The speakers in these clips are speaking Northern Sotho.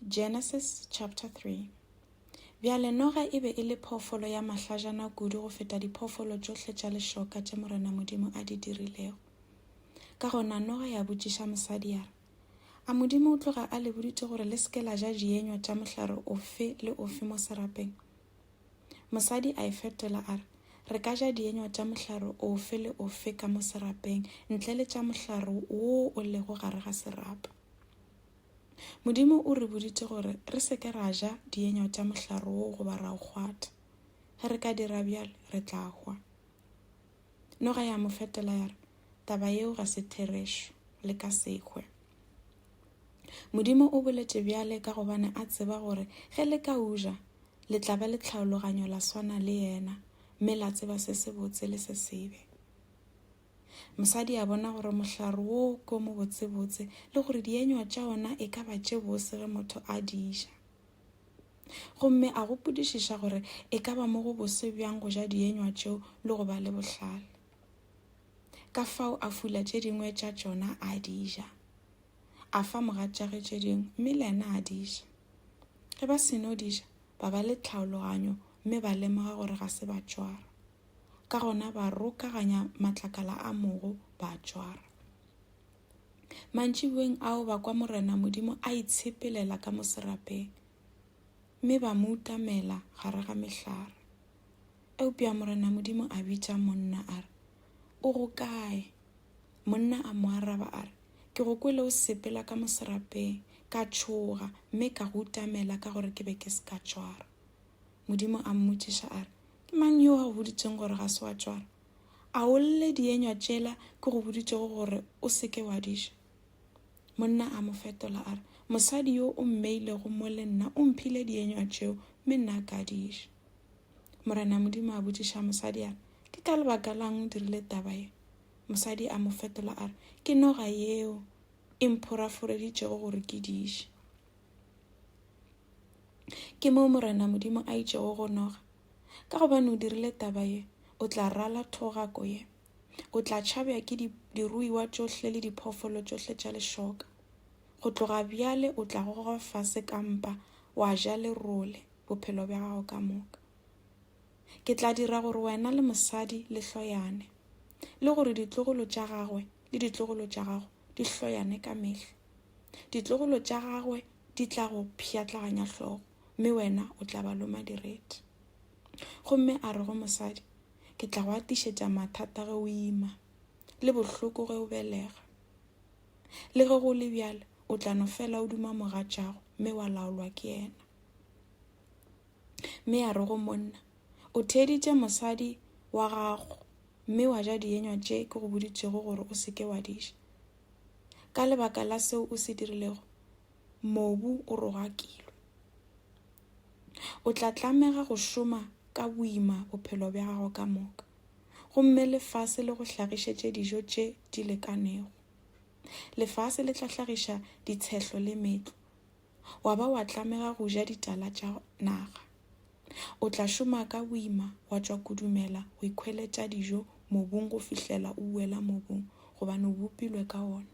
Genesis chapter 3 Bjale noga e be e le phoofolo ya mahlajana kudu go feta diphoofolo tšohle tša lešoka tše Morena Modimo a di dirilego. Ka gona noga ya botšiša mosadi ya re, A Modimo o tloga a le boditše gore le seke la ja dienywa tša mohlare ofe le ofe mo serapeng? Mosadi a e fetola a re, Re ka ja dienywa tša mohlare ofe le ofe ka mo serapeng, ntle le tša mohlare wo o lego gare ga serapa. Modimo o re boditše gore re se ke ra ja dienywa tša mohlare wo goba ra o kgwatha. Ge re ka dira bjalo, re tla hwa. Noga ya mo fetola ya re, Taba yeo ga se therešo, le ka sehwe. Modimo o boletše bjale ka gobane a tseba gore ge le ka uja, le tla ba le tlhaologanyo la swana le yena, mme la tseba se sebotse le se sebe. Mosadi a bona gore mohlare wo ko mobotsebotse le gore dienywa tša ona e ka ba tše bose ge motho a di ja. Gomme a gopodišiša gore e ka ba mo go bose bjang go ja dienywa tšeo le go ba le bohlale. Ka fao a fula tše dingwe tša tšona a di ja. A fa mogatšage tše dingwe mme le ena a di ja. Ge ba seno di ja, ba ba le tlhaologanyo mme ba lemoga gore ga se ba tšwara. ka gona ba rokaganya matlakala a mogo ba a tšwara mantšibueng ao ba kwa morena modimo a itshepelela ka moserapeng mme ba mo utamela gare ga mehlare eupša morena modimo a bitša monna a re o go kae monna a mo araba a re ke go kwele o sepela ka moserapeng ka tšhoga mme ka go utamela ka gore ke be ke se ka tšwara Modimo a mmotšiša a re, Ke mang yo a go boditšeng gore ga se wa tšwara? A o lle dienywa tšela ke go boditšego gore o se ke wa di ja? Monna a mo fetola a re, Mosadi yo o mmeilego mo le nna o mphile dienywa tšeo mme nna ka di ja. Morena Modimo a botšiša mosadi a re, Ke ka lebaka lang o dirile taba ye? Mosadi a mo fetola a re, Ke noga yeo e mphoraforeditšego gore ke di je. ke moo morena modimo a itšego go noga ka gobane o dirile taba ye o tla rala thogako ye o tla tšhabja ke diruiwa tšohle le diphoofolo tšohle tša lešoka go tloga bjale o tla goga fase ka mpa wa ja lerole bophelo bja gago ka moka ke tla dira gore wena le mosadi le hloyane le gore ditlogolo tša gagwe le ditlogolo tša gago di hloyane ka mehla Ditlogolo tša gagwe di tla go pšhatlaganya hlogo, mme wena o tla ba loma direte. Gomme a re go mosadi, Ke tla go atišetša mathata ge o ima, le bohloko ge o belega. Le ge go le bjale, o tla no fela o duma mogatšago, mme wa laolwa ke yena. Mme a re go monna, O theeditše mosadi wa gago, mme wa ja dienywa tše ke go boditšego gore o se ke wa di ja. Ka lebaka la seo o se dirilego, mobu o rogakilwe. O tla tlamega go šoma ka boima bophelo bja gago ka moka, gomme lefase le go hlagišetše dijo tše di lekanego. Lefase le tla hlagiša ditshehlo le metlo, wa ba wa tlamega go ja ditala tša naga. O tla šoma ka boima wa tšwa kudumela go ikhweletša dijo mobung go fihlela o uela mobung gobane o bopilwe ka ona.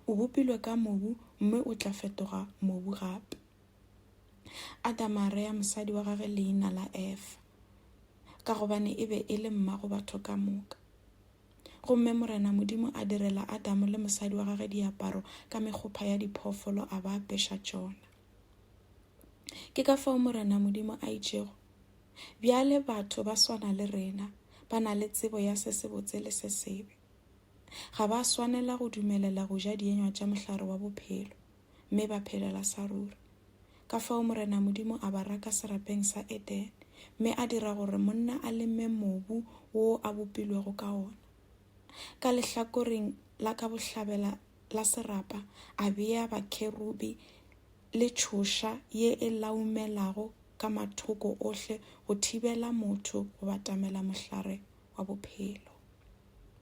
O bopilwe ka mobu mme o tla fetoga mobu gape. Adama a rea mosadi wa gage leina la Efa ka gobane e be e le mma go batho ka moka. Gomme Morena Modimo a direla Adamo le mosadi wa gage diaparo ka mekgopha ya diphoofolo a ba apeša tšona. ke ka fao morena modimo a itšego bjale batho ba swana le rena ba na le tsebo ya se sebotse le se sebe ga ba swanela go dumelela go ja dienywa tša mohlare wa bophelo mme ba phelela sa ruri ka fao morena modimo a ba raka serapeng sa eden mme a dira gore monna a leme mobu wo a bopilwego ka ona ka lehlakoreng la ka bohlabela la serapa a bea bakherubi le tšhoša ye e laumelago ka mathoko ohle go thibela motho go batamela mohlare wa bophelo.